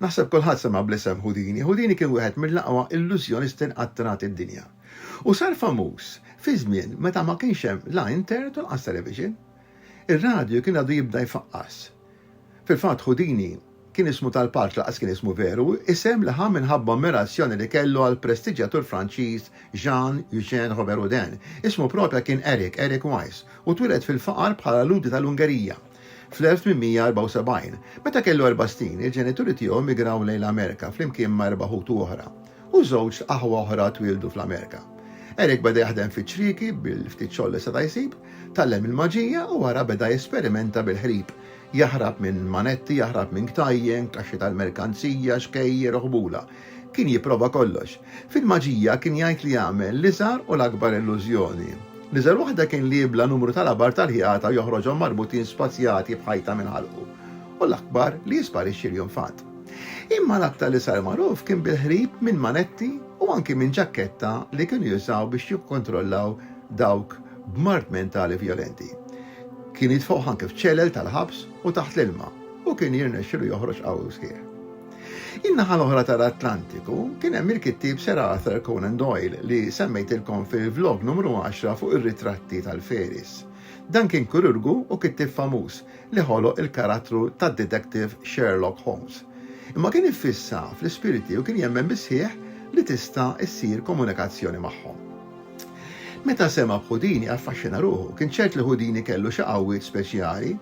Naħseb kulħadd sema' bl-isem Houdini. Houdini kien wieħed mill-aqwa illużjonisti nqattrat id-dinja. U sar famuż fi żmien meta ma kienx hemm la internet u laqas television. Ir-radju kien għadu jibda jfaqqas. Fil-fatt Houdini kien ismu tal-palċ laqas kien ismu veru, isem li ħa minħabba ammirazzjoni li kellu għall-prestiġġjatur Franċiż Jean Eugène Robert Houdin. Ismu propja kien Eric, Eric Wise, u twieled fil-faqar bħala Lhudi tal-Ungerija. Fl-1874, meta kellu erba' snin, il-ġenituri tiegħu immigraw lejn l-Amerika flimkien ma' erba' ħutu oħra, u żewġ aħwa oħra twieldu fl-Amerika. Eric beda jaħdem fiċ-ċrieki bil-ftit xogħol li seta' jsib, tgħallem il-maġija u wara beda jesperimenta bil-ħrib, jaħrab minn manetti, jaħrab minn ktajjen, kaxxi tal-merkanzija, xkejjer u ħbula. Kien jipprova kollox. Fil-maġija kien jgħid li jagħmel l-iżgħar u l-akbar illużjoni. L-iżgħar waħda kien li jibla numru ta' labar tal-ħjata u joħroġhom marbutin spazjati b'ħajta minn ħalqu, u l-akbar li jisparixxi l-jum f'għad. Imma l-aktar li sar magħruf kien bil-ħrib minn manetti u anki minn ġakketta li kienu jużaw biex jikkontrollaw dawk b'mard mentali vjolenti. Kien jitfgħuh anki f'ċelel tal-ħabs u taħt l-ilma, u kien jirnexxilu joħroġ qawwi u sħiħ. In-naħa l-oħra tal-Atlantiku kien hemm il-kittieb Sir Arthur Conan Doyle li semmejtilkom fil-vlog numru 10 fuq ir-ritratti tal-fairies. Dan kien kirurgu u kittieb famuż li ħoloq il-karattru tad-Detective Sherlock Holmes. Imma kien iffissa fl-ispiriti u kien jemmen bis-sħiħ li tista' ssir komunikazzjoni magħhom. Meta sema' b'Houdini affaxxina ruħu, kien ċert li Houdini kellu xi qawwiet speċjali.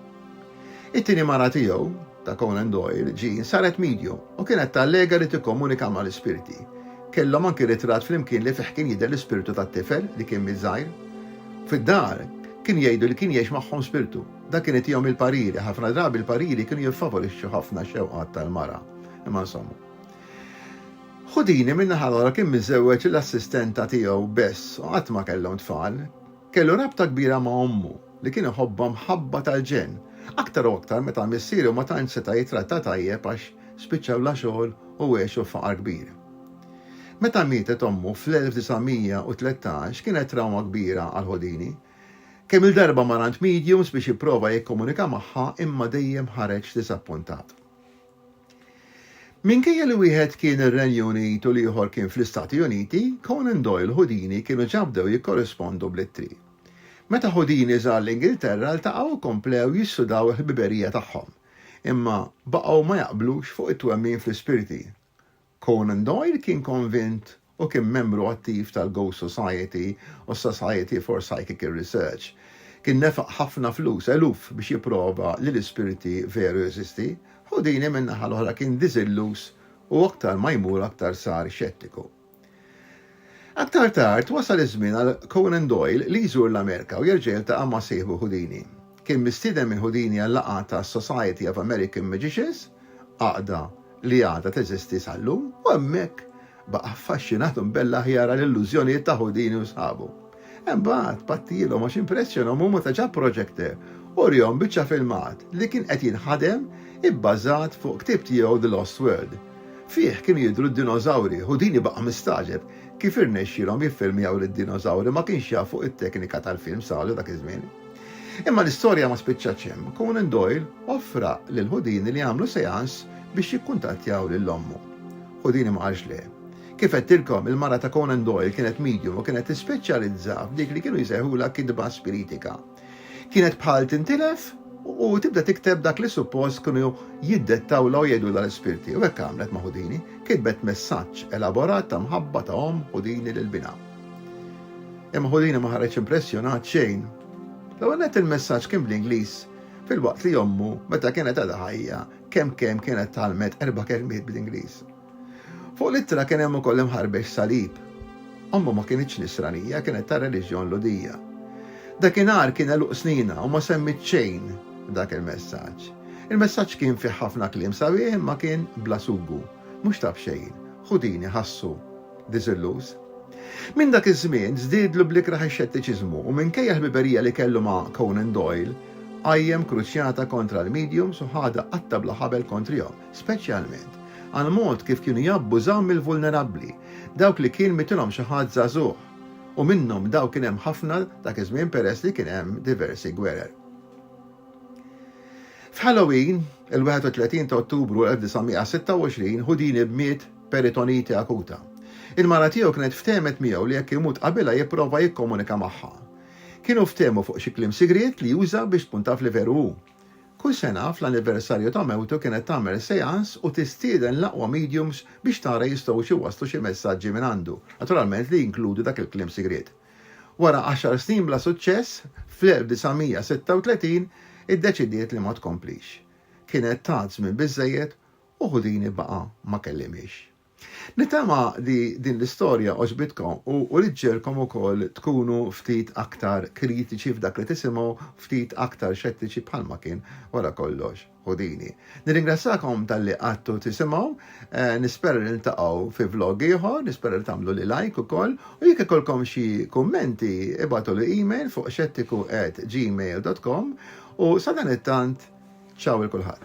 It-tieni mara tiegħu, ta' Conan Doyle, Jean, saret medium u kienet tallega li tikkomunika mal-ispirti. Kellhom anki ritratt flimkien li fih kien jidher l-ispirtu tat-tifel li kien miet żgħir. Fid-dar, kienu jgħidu li kien jgħix magħhom spirtu. Dan kien itihom il-pariri. Ħafna drabi l-pariri kienu jiffavorixxu ħafna x-xewqat tal-mara. Imma insomma. Houdini, min-naħa l-oħra, kien miżżewweġ lill-assistenta tiegħu Bess u qatt ma kellhom tfal. Kellu rabta kbira ma' ommu, li kien iħobbha mħabba tal-ġenn, aktar u aktar meta missieru ma tantx seta' jitrattha tajjeb għax spiċċa bla xogħol u għexu f'faqar kbir. Meta mietet ommu fl-1913 kienet trawma kbira għal Houdini. Kemm-il darba mar għand mediums biex jipprova jikkomunika magħha imma dejjem ħareġ diżappuntat. Minkejja li wieħed kien ir-Renju Unit u l-ieħor kien fl-Istati Uniti, Conan Doyle u Houdini kienu ġa bdew jikkorrispondu bl-ittri. Meta Houdini żar l-Ingilterra ltaqgħu u komplew jissudaw il-ħbiberija tagħhom. Imma baqgħu ma jaqblux fuq it-twemmin fl-ispirti. Conan Doyle kien konvint u kien membru attiv tal-Ghost Society u s-Society for Psychical Research. Kien nefaq ħafna flus, eluf, biex jipprova li l-ispiriti veru jeżisti. Houdini min-naħa l-oħra kien diżilluż u aktar ma jmur aktar sar xettiku. Aktar tard, wasal iż-żmien għal Conan Doyle li jżur l-Amerika u jerġa' jiltaqa' ma' sieħbu Houdini. Kien mistieden minn Houdini għal laqgħa tas-Society of American Magicians, għaqda li għadha teżisti sal-lum, u hemmhekk baqa' affaxxinat u mbella ħjara l-illużjonijiet ta' Houdini u sħabu. Imbagħad battilhom għax impressjonhom huma ta' ġab proġekter u rihom biċċa filmat li kien qed jinħadem ibbażat fuq ktieb tiegħu The Lost World. Fih kienu jidhru d-dinożawri, Houdini baqa' mistaġeb kif irnexxielhom jiffilmjaw lid-dinożawri ma kienx jaf fuq it-teknika tal-films għadu dak iż-żmien. Imma l-istorja ma spiċċatx hemm, Conan Doyle offra lil Houdini li jagħmlu seance biex jikkuntattjaw lil ommu. Houdini ma qalx le. Kif għedtilkom, il-mara ta' Conan Doyle kienet medium u kienet tispeċjalizza f'dik li kienu jsejħulha kitba spiritika. Kienet bħal tintilef u tibda tikteb dak li suppost kienu jiddettawlha u jgħidulha l-ispirti u hekk għamlet ma' Houdini, kitbet messaġġ elaborat ta' mħabba ta' omm Houdini lil binha. Imma Houdini ma ħareġ impressjonat xejn. L-ewwel nett il-messaġġ kien bl-Ingliż filwaqt li ommu meta kienet għadha ħajja kemm kemm kienet tgħallmet erba' kelmiet bl-Ingliż. Fuq l-ittra kien hemm ukoll imħarbiex salib. Ommu ma kinitx Nisranija, kienet tar-reliġjon Lhudija. Dakinhar kien għeluq sninha u ma semmiet xejn f'dak il-messaġġ. Il-messaġġ kien fih ħafna kliem sabiħ imma kien bla sugu. Mhux ta' b'xejn, Houdini ħassu diżilluż. Minn dak iż-żmien żdiedlu bl-ikrah ix-xettiċiżmu u minkejja l-ħbiberija li kellu ma' Conan Doyle, qajjem kruċjata kontra l-mediums u ħadha qatta' bla ħabel kontrihom. speċjalment għall-mod kif kienu jabbużaw mill-vulnerabbli, dawk li kien mitilhom xi ħadd żagħżugħ, u minnhom dawk kien hemm ħafna dak iż-żmien peress li kien hemm diversi gwerer. F'Halloween, il-31 ta' Ottubru 1926, Houdini miet peritonite akuta. Il-mara tiegħu kienet ftehmet miegħu li jekk imut qabilha jipprova jikkomunika magħha. Kienu ftehmu fuq xi kliem sigriet li juża biex tkun taf li veru hu. Kull sena, fl-anniversarju ta' mewtu kienet tagħmel seance u tistieden l-aqwa mediums biex tara jistgħux iwasslu xi messaġġi minn għandu, naturalment li jinkludu dak il-kliem sigriet. Wara għaxar snin bla suċċess, fl-1936 iddeċidiet li ma tkomplix. Kienet tat żmien biżżejjed u Houdini baqa' ma kellimhiex. Nittama li din l-istorja għoġbitkom u uriet ġiegħelkom ukoll tkunu ftit aktar kritiċi f'dak li tisimgħu, ftit aktar xettiċi bħalma kien wara kollox Houdini. Nirringrazzjakom talli qgħadtu tisimgħu, nispera li niltaqgħu fi vlog ieħor, nispera li tagħmluli like ukoll u jekk ikollkom xi kummenti ibagħtuli email fuq xettiku@gmail.com u sadanittant ciao 'il kulħadd.